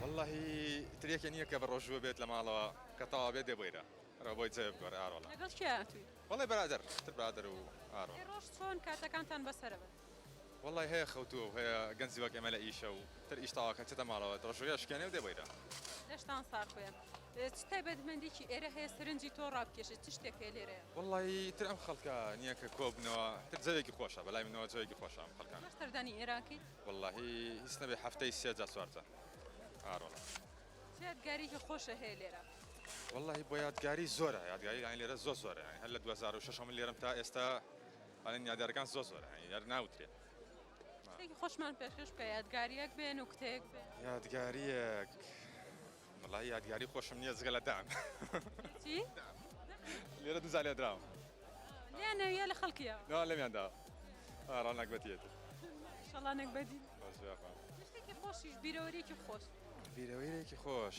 Speaker 6: واللهی تریەکە نییە کە بەڕۆژوە بێت لە ماڵەوە کە تاوا بێت دێ بۆیرە رە بۆی جێ بگۆرە ئارۆڵە لەگەڵ کێ هاتووی؟
Speaker 1: وەڵی برادر
Speaker 6: تر برادر و ئارۆڵ ئەی ڕۆژ چۆن
Speaker 1: کاتەکانتان بەسەرە بەت؟ وەڵای هەیە
Speaker 6: خەوتووە و هەیە گەنجی وەک ئێمە لە ئیشە و تر ئیش تەواو کە چێتە ماڵەوە تڕەشووگە شکێنێ و دێ بەیرە. لەشتان ساغ
Speaker 1: بێ. چ تایبەتمەندیکی ئێرە هەیە سەرنجی تۆ ڕابکێشێ؟ چ شتێک هەیە لێرە؟ وەڵای تر ئەم خەڵکە
Speaker 6: نیە کە کۆ بنەوە تر جەوێکی خۆشە بەلای منەوە جەوێکی خۆشە ئەم خەڵکانە. زۆر سەردانی ئێران کەیت؟
Speaker 1: وەڵاهی
Speaker 6: هیچ نەبێ هەفتەی سێ جا چوار جا ئاروەڵا. چ
Speaker 1: یادگاریکی خۆشە هەیە لێرە؟ وەڵاهی بۆ
Speaker 6: یادگاری زۆرە یادگاری یانی لێرە زۆر زۆرە یانی هەر لە دوو هەزار و شەش ە من لێرەم تا ئێستا. بنیادارەکان زۆر زۆرە هەنی هەر ناوترێ. شتێکی
Speaker 1: خۆشمان پێشکەش بکە یادگاریەک بێ نوکتەیەک بێ. یادگاریەک
Speaker 6: وەڵاهی یادگاری خۆشم نییە جگە لە دان چی؟ لێرە دوو جار لێدراوم لێیان نەویە
Speaker 1: لە خەڵکیە نەوان لەمیان دا
Speaker 6: ئارا نەگبەتیەتی شەڵا
Speaker 1: نەگبەتی بەس بێخوا
Speaker 6: شتێکی خۆشیش
Speaker 1: بیرەوەریەکی خۆش بیرەوەیرێکی
Speaker 6: خۆش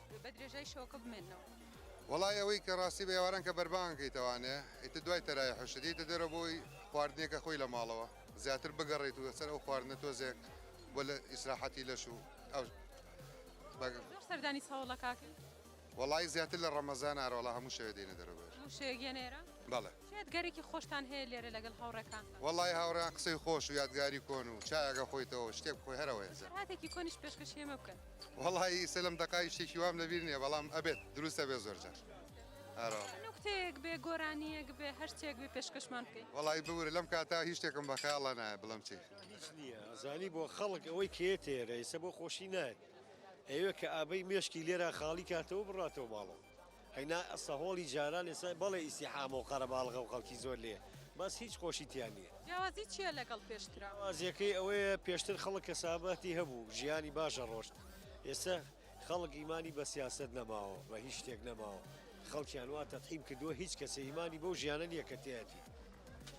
Speaker 1: بە درێژای شەوەکە بمێننەوە. وەڵای ئەوەی
Speaker 8: کە ڕاستی بە ئێواران کە بەربانگەکەی تەوانێ ئیتر دوای تەراویح و شتی دێتە دەرەوە بۆ خواردنێکە خۆی لە ماڵەوە زیاتر بگەڕێیت و لەسەر ئەو خواردنە تۆزێک بۆ لە ئیسراحەتی لەش و ئەو
Speaker 1: بەگم. زۆر سەردانی سەوڵە کاکەی. وەڵای زیاتر
Speaker 8: لە ڕەمەزانە ئەرەوەڵا هەموو شەوێ دێینە دەرەوە بەر. هەموو شەوێک
Speaker 1: یەنە ئێرە؟ بەڵێ. چ
Speaker 8: یادگاریەکی خۆشتان
Speaker 1: هەیە لێرە لەگەڵ هاوڕێکانتان؟ وەڵایی هاوڕێیان قسەی
Speaker 8: خۆش و یادگاری کۆن و چایەک ئەخۆیتەوە شتێک بخۆی هەرە وەیەجە. خەڵاتێکی کۆنیش پێشکەشی
Speaker 1: ئێمە بکەن. وەڵایی ئیسە لەم
Speaker 8: دەقە هیچ شتێکی وام لەبیر نیە بەڵام ئەبێت دروست ئەبێت زۆر جار ئەرۆڵێ.
Speaker 1: نوکتەیەک بێ گۆرانیەک بێ هەر شتێک بێ پێشکەشمان بکەی. وەڵایی ببورە لەم کاتە
Speaker 8: هیچ شتێکم بە خەیاڵا نایە بڵێم چی. هیچ نیە ئەزانی
Speaker 11: بۆ خەڵک ئەوەی کە یەتە ئێرە ئیسە بۆ خۆشی نایەت ئەیەوێ کە ئابەی مێشکی لێرا خاڵی کاتەوە بڕاتەوە ماڵەوە. ئەینا سەهۆڵی جاران ئێستا بەڵێ ئیستیحامەو قەرەباڵغەو خەڵکی زۆر لێیە بەس هیچ خۆشی تیا نیە. جیاوازی چیە لەگەڵ
Speaker 1: پێشترا؟ جیاوازیەکەی ئەوەیە
Speaker 11: پێشتر خەڵک کەسابەتی هەبوو ژیانی باش ئەڕۆشت ئێستا خەڵک ئیمانی بە سیاسەت نەماوە بە هیچ شتێک نەماوە خەڵکیان وا تەفهیم کردوە هیچ کەسێ ئیمانی بەو ژیانە نیە کە تیایەتی.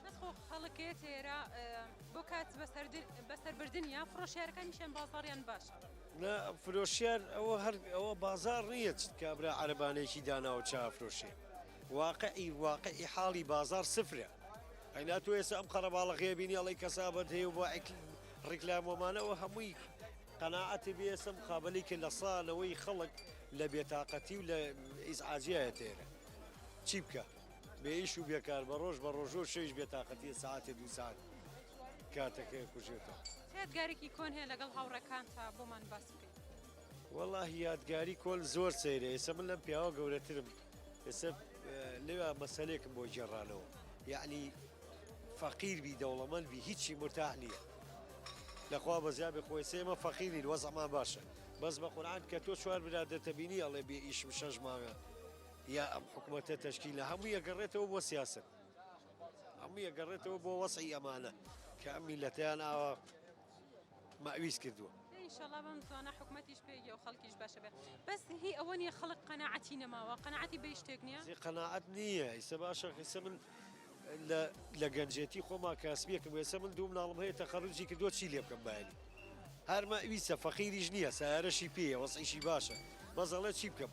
Speaker 11: بەس خۆ
Speaker 1: خەڵک یەتە ئێرە بۆ کات بەسەر بردنیا فرۆشیارەکانیشیان بازاڕیان باشە. نا
Speaker 11: فرۆشیار ئەوە هەر ئەوە بازاڕ نییە چ کابرا عەرەبانەیەکی داناوە چا ئەفرۆشێ. واقعی واقعی حاڵی بازاڕ سفرە. ئەینا تۆ ئێستا ئەم قەرەباڵغیە بینی ئەڵی کەسابەت هەیە و بۆ ڕیکلام وەمانە ئەوە هەمووی قەناعەتی بێ ئێستا مقابلی کە لە سانەوەی خەڵک لە بێتاقەتی و لە ئیزعاجیایە تێرە. چی بکە؟ بێ ئیش و بێکار بە ڕۆژ بە ڕۆژۆ شەویش بێتاقەتیە ساعەتێ دوو ساعەت. کاتەکەی کوژێتەوە. چ یادگارێکی کۆن هەیە
Speaker 1: لەگەڵ هاوڕێکانتا بۆمان باس بکەی؟ وەڵا
Speaker 11: یادگاری کۆل زۆر سەیرە ئێسە من لەم پیاوە گەورەترم ئێسە لێوا مەسەلێکم بۆ جێڕانەوە یعنی فەقیر بی دەوڵەمەند بی هیچی مرتاح نییە لەخوا بەزیابێ خۆی سێمە فەقیری وەزەما باشە بەس بە قورآان کە تۆ چوار برادەتە بینی ئەڵێ بێ ئیشم شەش ماوێ یا ئەم حکوومەتە تەشکی لە هەموو یەگەڕێتەوە بۆ سیاست هەمووی ئەگەڕێتەوە بۆ وەزعی ئەمانە کە ئەم میلەتەیان ئاوا مەویست کردووە. ئینشەڵا بەم زوانە
Speaker 1: حکومەتیش پێگە و خەڵکیش باشە بێ بەس هی ئەوە نیە خەڵک قەنەعەتی نەماوە
Speaker 11: قەنەعەتی
Speaker 1: بە شتێک
Speaker 11: نیە
Speaker 1: زی
Speaker 11: قەناعەت
Speaker 1: نییە
Speaker 11: ئیسە
Speaker 1: باشە
Speaker 11: قیسە
Speaker 1: من
Speaker 11: لە گەنجێتی خۆما کاسبیەکەم وێسە من دوو مناڵم هەیە تەقەڕوجی کردو چی لێ بکەم بایانی هەرمە ئویسە فەقیریش نییە سارەشی پێیە وەسیشی باشە بەزەڵێ چی بکەم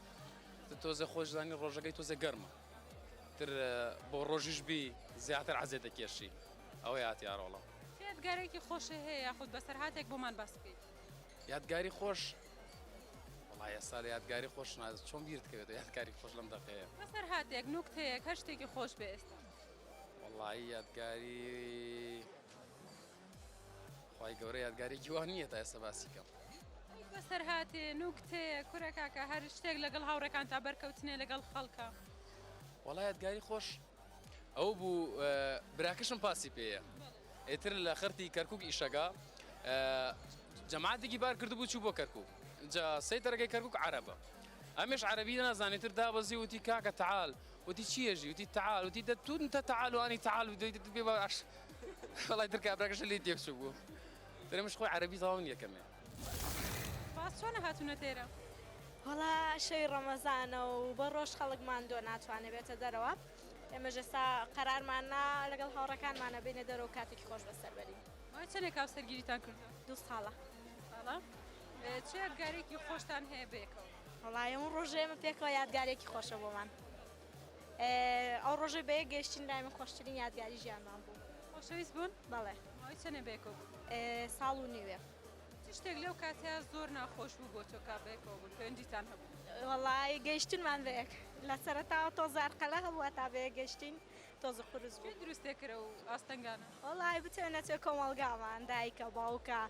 Speaker 12: تۆزێ خۆش زانی ڕۆژەکەی تۆزێ گەرمە تر بۆ ڕۆژیش بی زیاتر عزێ دەکێشی ئەوەی هاتیارۆڵە یادگارێکی
Speaker 1: خۆشە هەیە یاخود بەسەر هااتێک بۆمان باس بکەیت یادگاری
Speaker 12: خۆش وڵایە سال یادگاری خۆش ناز چۆن بیرت کەوێت یادگاری خۆش لەم دەقەیە بەسەر هااتێک
Speaker 1: نوکتەیەک هەر شتێکی خۆش بێ ئێستا وڵی
Speaker 12: یادگاری خوای گەورە یادگارێکی وا نییە تا ئێستا باسی کەم. بەسەرهاتێ
Speaker 1: نوکتەیە کورە کاکە هەر شتێک لەگەڵ هاوڕێکان تا بەرکەوتنێ لەگەڵ خەڵکە. وەڵا
Speaker 12: یادگاری خۆش ئەو بوو براکەشم پاسی پێەیە ئێتر لە خەرتی کەرکک ئیشەکە جەماعاتێکی بار کردبوو چوو بۆ کەرکک جا سەی دەرەگەی کەرکک عربە ئەمش عربی نازانێتتر دابەزی وتی کاکە تعال وتی چی ئێژی؟ وتی تەعال وتی دە تو نتە تەعال و ئانی تەعال بدوی دە تو بێ باش وەڵای تر کابراکەشە لێی تێک چوو بوو درێمش خۆی عەرەبی تەواو نییە کەمێ
Speaker 1: باس چۆنە هاتوونە تێرە؟ وەڵا
Speaker 13: شەوی ڕەمەزانە و بە ڕۆژ خەڵک ماندووە ناتوانێ بێتە دەرەوە ئێمەش ئێستا قەرارماننا لەگەڵ هاوڕەکانمانە بینە دەرەوە کاتێکی خۆش بەسەر بەرین مای چەندێک کاو
Speaker 1: سەرگیریتان کردووە؟ دوو ساڵە ساڵە چ
Speaker 13: یادگارێکی
Speaker 1: خۆشتان هەیە بەیەکەوە؟ وەڵای ئەم ڕۆژەی
Speaker 13: ئێمە پێکەوە یادگارێکی خۆشە بۆمان ئەو ڕۆژەی بە یەک گەشتین لای من خۆشترین یادگاری ژیانمان بوو خۆشەویست بوون
Speaker 1: بەڵێ ماوەی چەنێ
Speaker 13: بێکۆ
Speaker 1: ساڵ و
Speaker 13: نیوێ شتێک لەو
Speaker 1: کاتە زۆر ناخۆش بوو بۆ تۆکا بێکەوە بوون پێنجیتان هەبوو وەڵی
Speaker 13: گەیشتنمان بەیەک لە سەرتاوە تۆ زارقەلە هەبووە تا بەیە گەشتین تۆزە قورس بوو. کێ دروستێ کرە و
Speaker 1: ئاستەنگانە؟ وەڵای بتێ نەچێ
Speaker 13: کۆمەڵگامان دایکە باوکە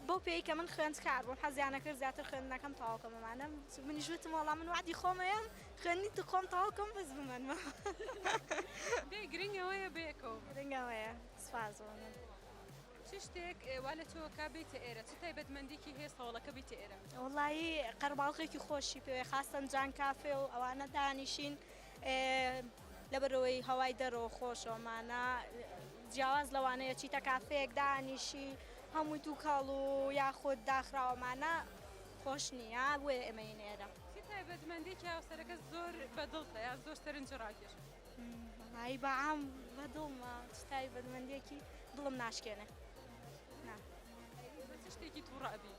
Speaker 13: بۆ پێی کە من خوێندکار بووم حەزیانە کرد زیاتر خوێندنەکەم تەواو کەم بمانم منیش وتم وەڵام من وعدی خۆمەیەم خوێندنی تو خۆم تەواو کەم بەس بمەنمە
Speaker 1: بێ گرنگەوەیە بەیەکەوە گرنگەوەیە
Speaker 13: سپاس بۆ من. چ
Speaker 1: شتێک وا لە تۆکە بیتە ئێرە چ تایبەتمەندێکی هەیە سەوڵەکە بیتە ئێرە؟ وەڵایی
Speaker 13: قەرەباڵغێکی خۆشی پێوێ خاستەن جان کافێ و ئەوانە دانیشین ئێ لەبەرئەوەی هەوای دەرەوە خۆشە ئەمانە جیاواز لەوانەیە چیتە کافێک دانیشی هەمووی تووکەڵ و یاخود داخراوەمانە خۆش نییە بۆیە ئێمەی نێرە تایبەتمەندێکی
Speaker 1: هاوسەرەکە زۆر بەدڵتە یا زۆر سەرنج ڕاکێش هایی
Speaker 13: بەعام بە دڵمە تایبەتمەندێکی دڵم ناشکێنێ
Speaker 1: شتێکی تووڕابی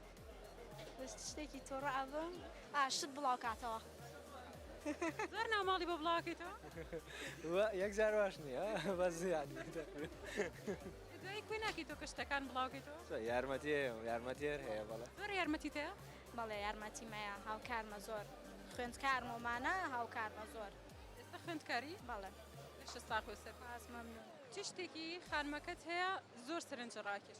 Speaker 1: دەشت
Speaker 13: شتێکی تۆڕە ئەبم ئا شت بڵاو کاتەوە.
Speaker 1: زۆر ناماڵی بۆ بڵاکەیتەوە
Speaker 14: یەک جار واش نییە
Speaker 1: بەس
Speaker 14: یانی دوای
Speaker 1: کوێ ناکەی تۆ کە شتەکان بڵاوکەیتەوە یارمەتی یارمەتیێر
Speaker 5: هەیە بەڵێ زۆر یارمەتی تێ
Speaker 1: بەڵێ یارمەتی
Speaker 13: مەیە هاوکارمە زۆر خوێندکار مۆمانە هاوکارمە زۆر ئێستا خوێندکاری
Speaker 1: بەڵێ
Speaker 13: شستا خۆ
Speaker 1: سەر پاس مەمنون چ
Speaker 13: شتێکی
Speaker 1: خانمەکەت هەیە زۆر سەرنج ڕاکێش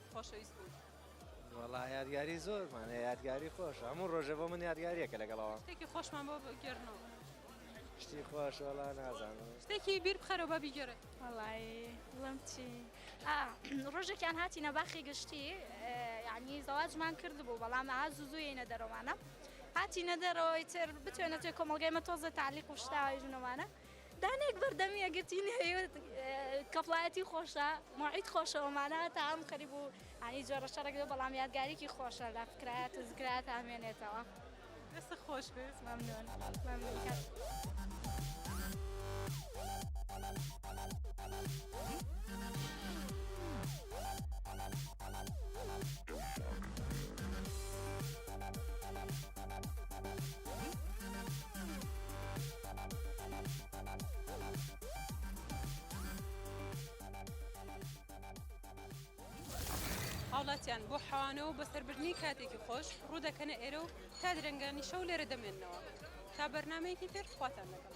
Speaker 1: خۆشەویست بوون. وەڵا
Speaker 5: یادگاری زۆرمان هەیە یادگاری خۆش هەموو ڕۆژە بۆ من یادگاریەکە لەگەڵەوە شتێکی خۆشمان بۆ
Speaker 1: بگێرنەوە شتی
Speaker 5: خۆش وەڵا نازانم شتێکی بیر بخەرەوە
Speaker 1: بە بیگەرە وەڵی
Speaker 13: بڵم چی ڕۆژێکیان هاتی نەباخی گشتی یعنی زەواجمان کرد بوو بەڵام ئا زوزوی نە دەرەوانە هاتی نەدەرەوەی تر بتوێنە توێ کۆمەلگای مە تۆزە تعلیق و شتاوی ژنەوانە دانەیەک بەردەم یەکگرتووی نەوێت کەپڵایەتی خۆشە مۆعید خۆشەوە مانا تا ئەم خەریب و ئانی جۆرە شەڕێک بێ بەڵام یادگاریکی خۆشە لە فکرایەت و زکرایەت هامێنێتەوە دەست
Speaker 1: خۆش بێت مەمنون مەمنون
Speaker 13: کەس
Speaker 1: هاوڵاتیان بۆ حەوانەوە بە سەربردنی کاتێکی خۆش ڕوودەکەنە ئێرە و تا درەنگانی شەو لێرە دەمێنەوە تا بەرنمەیەکی تر خواتان دەکەم.